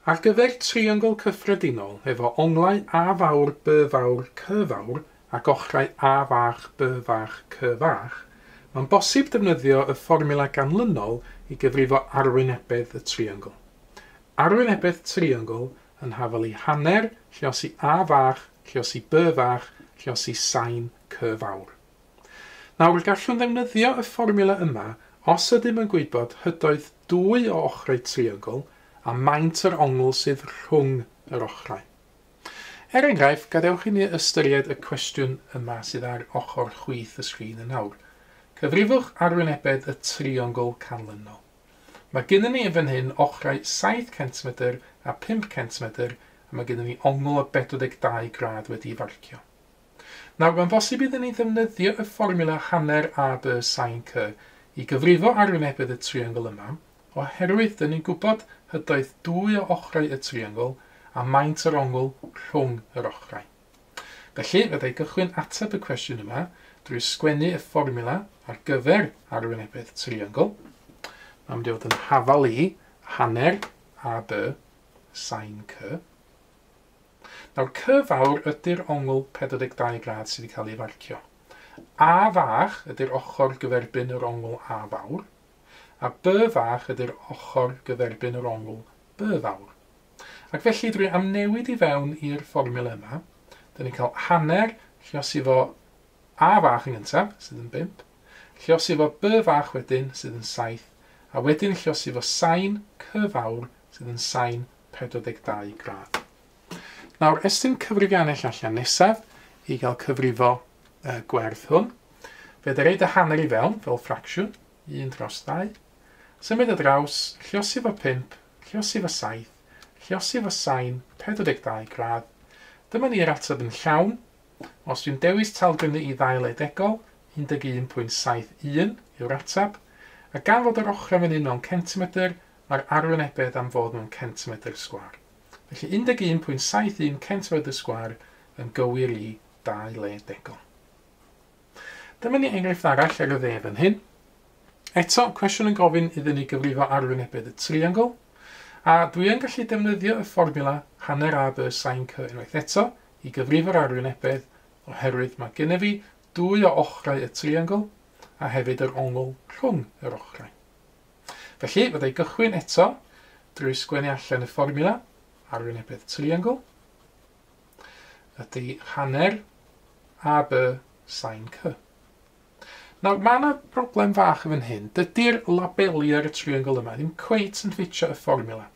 Ar gyfer triongl cyffredinol efo onglau A fawr, B fawr, C fawr ac ochrau A fach, B fach, C fach, mae'n bosib defnyddio y fformiwla ganlynol i gyfrifo arwynebedd y triongl. Arwynebedd triongl yn hafal i hanner, lliosi A fach, lliosi B fach, lliosi sain C fawr. Nawr, gallwn ddefnyddio y fformiwla yma os ydym yn gwybod hydoedd dwy o ochrau triongl a maint yr ongl sydd rhwng yr ochrau. Er enghraifft, gadewch i ni ystyried y cwestiwn yma sydd ar ochr chwith y sgrin yn awr. Cyfrifwch arwynebedd y triongl canlynol. Mae gennym ni yn fan hyn ochrau saith centimedr a phump centimedr a mae gennym ni ongl o 42 gradd wedi'i farcio. Nawr, mae'n bosib iddyn ni ddefnyddio y fformiwla hanner AB sin C i gyfrifo arwynebedd y triongl yma, oherwydd dyn ni'n gwybod hydoedd dwy o ochrau y triongl a maint yr ongl rhwng yr ochrau. Felly, fydda i gychwyn ateb y cwestiwn yma drwy sgwennu y fformiwla ar gyfer arwynebedd triongl. Mae'n mynd i fod yn hafal i hanner AB sin C. Nawr, Cy fawr ydy'r ongl 42 gradd sydd wedi cael ei farcio. A fach ydy'r ochr gyferbyn yr ongl A fawr, a By fach ydy'r ochr gyferbyn yr ongl By fawr. Ac felly, drwy amnewid i fewn i'r fformiwla yma, dyn ni'n cael hanner lliosi fo A fach yn gyntaf, sydd yn 5, lliosi fo By fach wedyn, sydd yn 7, a wedyn lliosi fo sain Cy fawr, sydd yn sain 42 gradd. Nawr, estyn cyfrifiannell allan nesaf i gael cyfrifo y gwerth hwn. Fe ydy reid y hanner i fewn fel ffracsiwn, 1 dros 2. Symud y draws, lliosi fo 5, lliosi fo 7, lliosi fo sain 42 gradd. Dyma ni'r ateb yn llawn. Os dwi'n dewis talgrynnu i ddail edegol, 11.71 yw'r ateb, a gan fod yr ochrau fan hyn mewn centimetr, a'r arwynebedd am fod mewn centimedr sgwâr. Felly 11.71 centimedr sgwâr yn gywir i dau le degol. Dyma ni enghraifft arall ar y dde fan hyn. Eto, cwestiwn yn gofyn iddyn ni gyfrifo arwynebedd y triongl, a dwi yn gallu defnyddio y fformiwla hanner a by sain cy unwaith eto i gyfrifo'r arwynebedd oherwydd mae gennyf fi dwy o ochrau y triongl a hefyd yr ongl rhwng yr ochrau. Felly, fydda i gychwyn eto drwy sgwennu allan y fformiwla arwynebedd triangl. Ydy hanner AB sain C. Nawr, mae yna broblem fach yn fan hyn. Dydy'r labeli ar y triangl yma ddim cweit yn ffitio y fformiwla.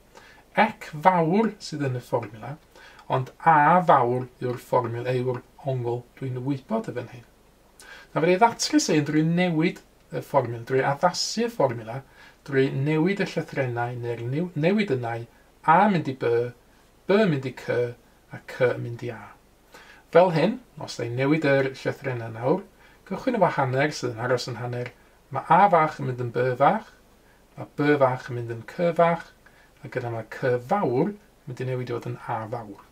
Ec fawr sydd yn y fformiwla, ond A fawr yw'r fformiwla yw'r ongl dwi'n wybod y fan hyn. Nawr, fe ddatrys ein drwy newid y fformiwla, drwy addasu y fformiwla, drwy newid y llythrennau neu'r newid ynnau, A mynd i By, By mynd i Cy, a Cy yn mynd i A. Fel hyn, os da i'n newid yr llythrennau nawr, cychwyn efo hanner sydd yn aros yn hanner, mae A fach yn mynd yn By fach, mae By fach yn mynd yn Cy fach, a gyda mae Cy fawr yn mynd i newid i fod yn A fawr.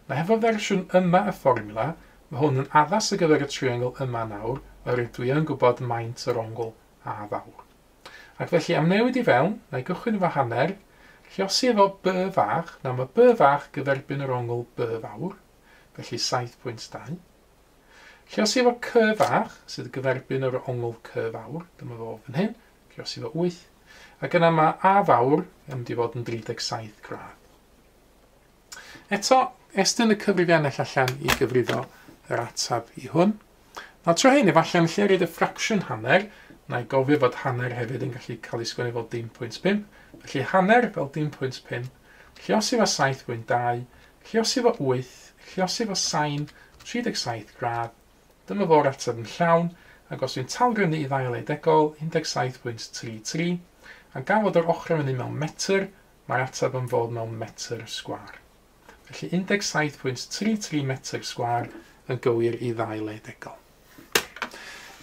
Mae hefo fersiwn yma y fformiwla, mae hwn yn addas ar gyfer y triongl yma nawr, oherwydd dwi yn gwybod maint yr ongl A fawr. Ac felly, am newid i fewn, na i gychwyn efo hanner, lliosi efo B fach, nawr mae B fach gyferbyn yr ongl B fawr, felly 7.2. Lliosi efo C fach, sydd gyferbyn yr ongl C fawr, dyma fo fan hyn, lliosi efo 8, ac yna mae A fawr yn mynd i fod yn 37 gradd. Eto, estyn y cyfrifiannell allan i gyfrifo yr ateb i hwn. Nawr tro hyn, efallai yn lle reid y ffracsiwn hanner, na i gofio fod hanner hefyd yn gallu cael ei sgwennu fel dim pwynt pump, felly hanner fel dim pwynt pump, lliosi fo 7 pwynt 2, lliosi fo 8, lliosi fo sain 37 gradd, dyma fo'r ateb yn llawn, ac os dwi'n talgrynnu i ddail eidegol, 17 pwynt 3 3, a gafod o'r ochr yn fyny mewn metr, Mae ateb am fod mewn metr sgwâr. Felly 17.33 metr sgwâr yn gywir i ddau le degol.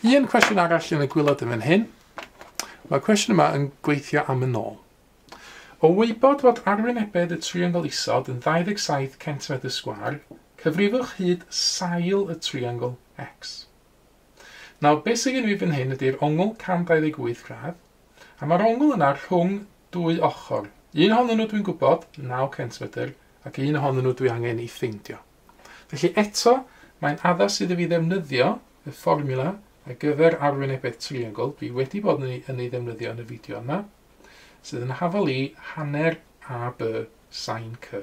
Un cwestiwn arall yn y gwylod yn fan hyn. Mae'r cwestiwn yma yn gweithio am y nôl. O wybod fod arwynebedd y triongl isod yn 27 centimetr sgwâr, cyfrifwch hyd sail y triongl X. Nawr, beth sydd gen i fan hyn ydy'r ongl 128 gradd, a mae'r ongl yna rhwng Dwy ochr. Un ohonyn nhw dwi'n gwybod, naw centmedr, ac un ohonyn nhw dwi angen ei ffeindio. Felly eto, mae'n addas iddo fi ddefnyddio y fformiwla ar gyfer arwynebedd triongl, dwi wedi bod yn ei, yn ei ddefnyddio yn y fideo yma, sydd yn hafal i hanner AB sain C.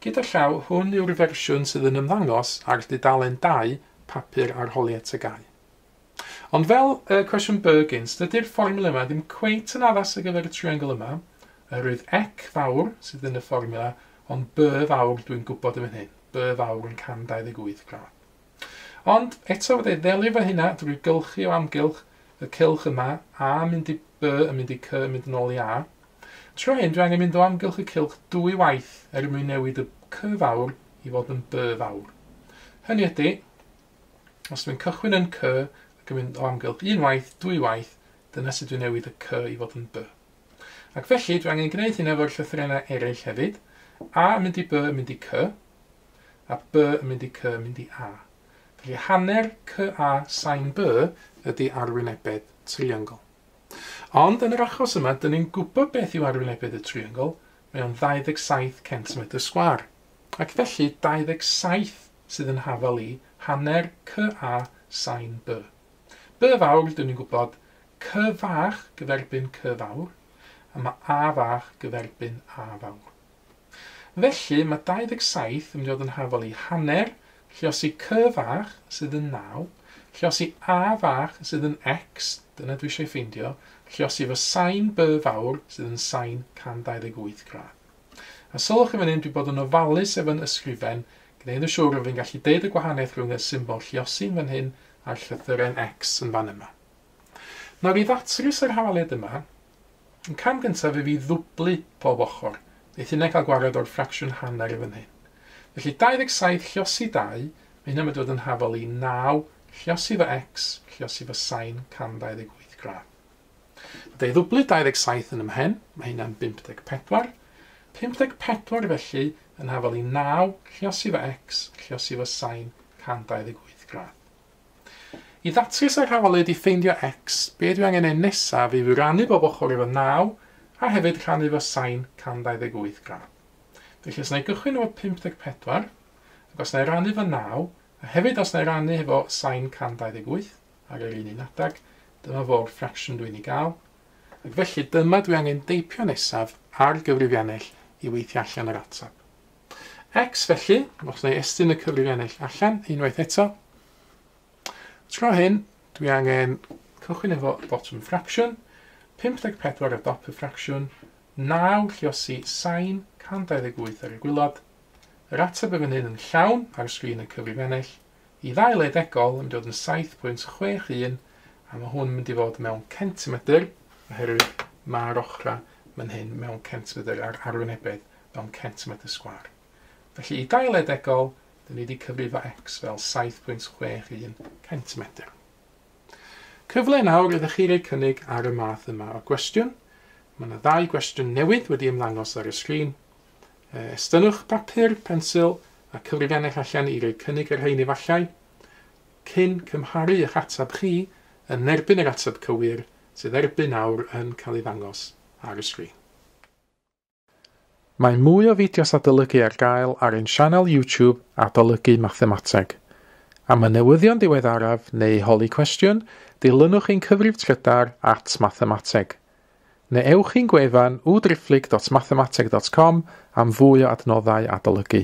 Gyda llaw, hwn yw'r fersiwn sydd yn ymddangos ar dudalen 2 papur arholiad tygau. Ond fel y cwestiwn Burgins, dydy'r fformula yma ddim cweit yn addas ar gyfer y triongl yma, oherwydd ec fawr sydd yn y fformula, ond by fawr dwi'n gwybod yn fan hyn, by fawr yn 128 gradd. Ond eto fydda i ddelio fo hynna drwy gylchu o amgylch y cylch yma, a mynd i by yn mynd i cy yn mynd yn ôl i a. Tro hyn dwi angen mynd o amgylch y cylch dwy waith er mwyn newid y cy fawr i fod yn by fawr. Hynny ydy, Os dwi'n cychwyn yn cy ac yn mynd o amgylch un waith, dwy waith, dyna sut dwi'n newid y cy i fod yn by. Ac felly, dwi angen gwneud hyn efo'r llythrennau eraill hefyd, a yn mynd i by yn mynd i cy, a by yn mynd i cy yn mynd i a. Felly hanner cy a sain by ydy arwynebedd triongl. Ond yn yr achos yma, dyn ni'n gwybod beth yw arwynebedd y triongl, mae o'n 27 centimetr sgwar. Ac felly 27 sydd yn hafal i, hanner, cy a, sain, by. By fawr, dyn ni'n gwybod, cy fach gyferbyn cy fawr, a mae a fach gyferbyn a fawr. Felly, mae 27 yn mynd i fod yn hafal i, hanner, lliosi cy fach sydd yn 9, lliosi a fach sydd yn x, dyna dwi eisiau ei ffeindio, lliosi fy sain by fawr sydd yn sain 128 gradd. A sylwch yn fan hyn, dwi bod yn ofalus efo'n ysgrifen, gneud yn siŵr fod fi'n gallu deud y gwahaniaeth rhwng y symbol lliosi'n fan hyn a'r llythyren X yn fan yma. Nawr i ddatrys yr hawaliad yma, y cam gyntaf yw i ddwblu pob ochr, neith hynna cael gwared o'r ffracsiwn hanner yn fan hyn. Felly 27 lliosi 2, mae hynna'n mynd i fod yn hafal i 9 lliosi fo X lliosi fo sain cam 28 gradd. Deuddwblyd 27 yn ymhen, mae hynna'n 54. 54 felly yn hafal i 9, lliosi fo x, lliosi fo sain 128 gradd. I ddatrys yr hafalyd i ffeindio x, be dwi angen ei nesaf yw i rannu bob ochr efo 9 a hefyd rhannu fo sain 128 gradd. Felly os na i gychwyn efo 54, ac os na i rannu fo 9, a hefyd os na i rannu hefo sain 128, ar yr un un adeg, dyma fo'r ffracsiwn dwi'n ei gael, ac felly dyma dwi angen deipio nesaf ar gyfrifiannell i weithio allan yr ateb. X felly, os na i estyn y cyfrifiannell allan unwaith eto, tro hyn dwi angen cychwyn efo bottom ffracsiwn, 54 o dop y ffracsiwn, 9 lliosi sain 128 ar y gwylod, yr ateb y fan hyn yn llawn ar sgrin y cyfrifiannell, Y ddau le degol yn dod yn 7.61 a mae hwn yn mynd i fod mewn centimedr oherwydd mae'r ochrau man hyn mewn centimedr a'r arwynebedd mewn centimedr sgwar. Felly i dau le degol, dyn ni wedi cyfrifo x fel 7.61 centimedr. Cyfle nawr ydych chi roi cynnig ar y math yma o gwestiwn. Mae yna ddau gwestiwn newydd wedi ymddangos ar y sgrin. Estynnwch bapur, pensil a cyfrifan eich allan i roi cynnig y rhein efallai, cyn cymharu eich ateb chi yn erbyn yr ateb cywir sydd erbyn awr yn cael ei ddangos ar y sgrin. Mae mwy o fideos adolygu ar gael ar ein sianel YouTube Adolygu Mathemateg. Am y newyddion diweddaraf neu holi cwestiwn, dilynwch ein cyfrif trydar at Mathemateg. Neu ewch i'n gwefan www.driphlyg.mathemateg.com am fwy o adnoddau adolygu.